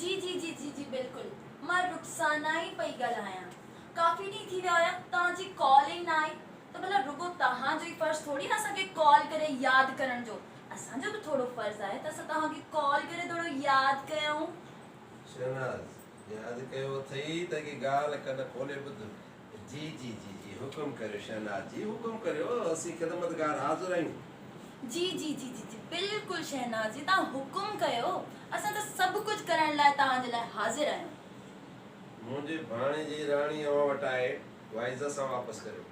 جي جي جي جي جي بلڪل مان رخسانه ئي پئي ڳالهايان ڪافي ڏينهن ٿي ويا هيا توهان جي ڪال ئي نه آئي ته ڀلا رڳو توهان جو ئي فرض ٿوري آهي اسان کي ڪال ڪري ياد ڪرڻ جو اسان جو به ٿورو فرض آهي ته اسان توهان کي ڪال ڪري ٿورو ياد ڪيون. شهناز، ياد ڪيو اٿئي ته هڪ ڳالهه ڪن کولي ٻڌ. جي جي جي جي حڪم ڪريو شهناز جي حڪم ڪريو اسين خدمتگار حاضر آهيون. جي جي جي جي جي بلڪل شهناز جي توهان حڪم ڪيو اسان ته سڀ ڪجهه ڪرڻ لاء توهان جي لاء حاضر آهيون. منهنجي ڀاڻيجي راڻي اوهان وٽ آهي اها عزت سان واپس ڪريو.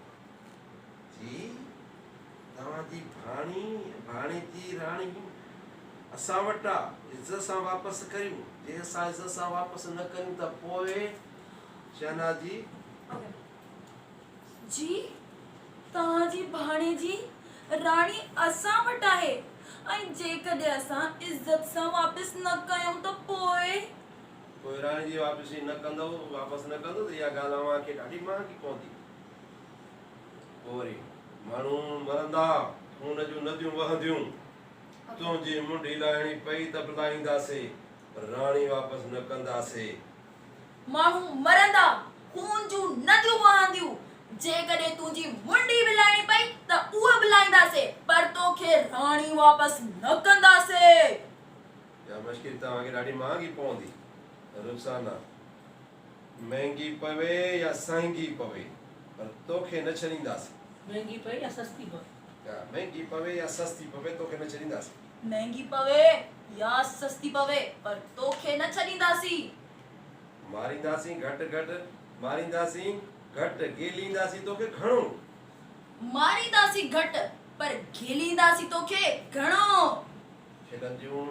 جي توهان جي ڀاڻي ڀاڻيجي راڻي اسان وٽ آ عزت سان واپس ڪريون جي اسان عزت سان واپس نه ڪريون ته پوء. شهناز جي اگر جي توهان جي ڀاڻيجي راڻي اسان وٽ آهي ۽ جيڪڏهن اسان عزت سان واپس نه ڪيون ته پوء. پوء راڻي جي واپسي نه ڪندو واپس نه ڪندو ته اها ڳالهه اوهان کي ڏاڍي مهانگي پوندي. پوء وري ماڻهو مرندا، خون جون نديون وهنديون. تنهنجي منڍي لاهڻي پئي ته به لاهينداسي پر راڻي واپس نه ڪنداسي. ماڻهو مرندا، خون جون نديون وهنديون، جيڪڏهن تنهنجي منڊي به لائڻي پئي ته اها به لائينداسي، پر تو کي راڻي واپس نه ڪنداسي. اها مشڪي توهان کي ڏاڍي مهانگي پوندي. رخسانه، مهنگي پوي يا سهنگي پوي، پر تو کي نه ڇڏينداسي. مهنگي پوي يا سستي پوي. مهنگي پوي يا سستي پوي توکي نه ڇڏينداسين. مهنگي پوي يا سستي پوي پر توکي نه ڇڏينداسين. مارينداسين گهٽ گهٽ مارينداسين گهٽ گيلينداسين توکي گهڻو. مارينداسين گهٽ پر گيلينداسين توکي گهڻو. کلنديون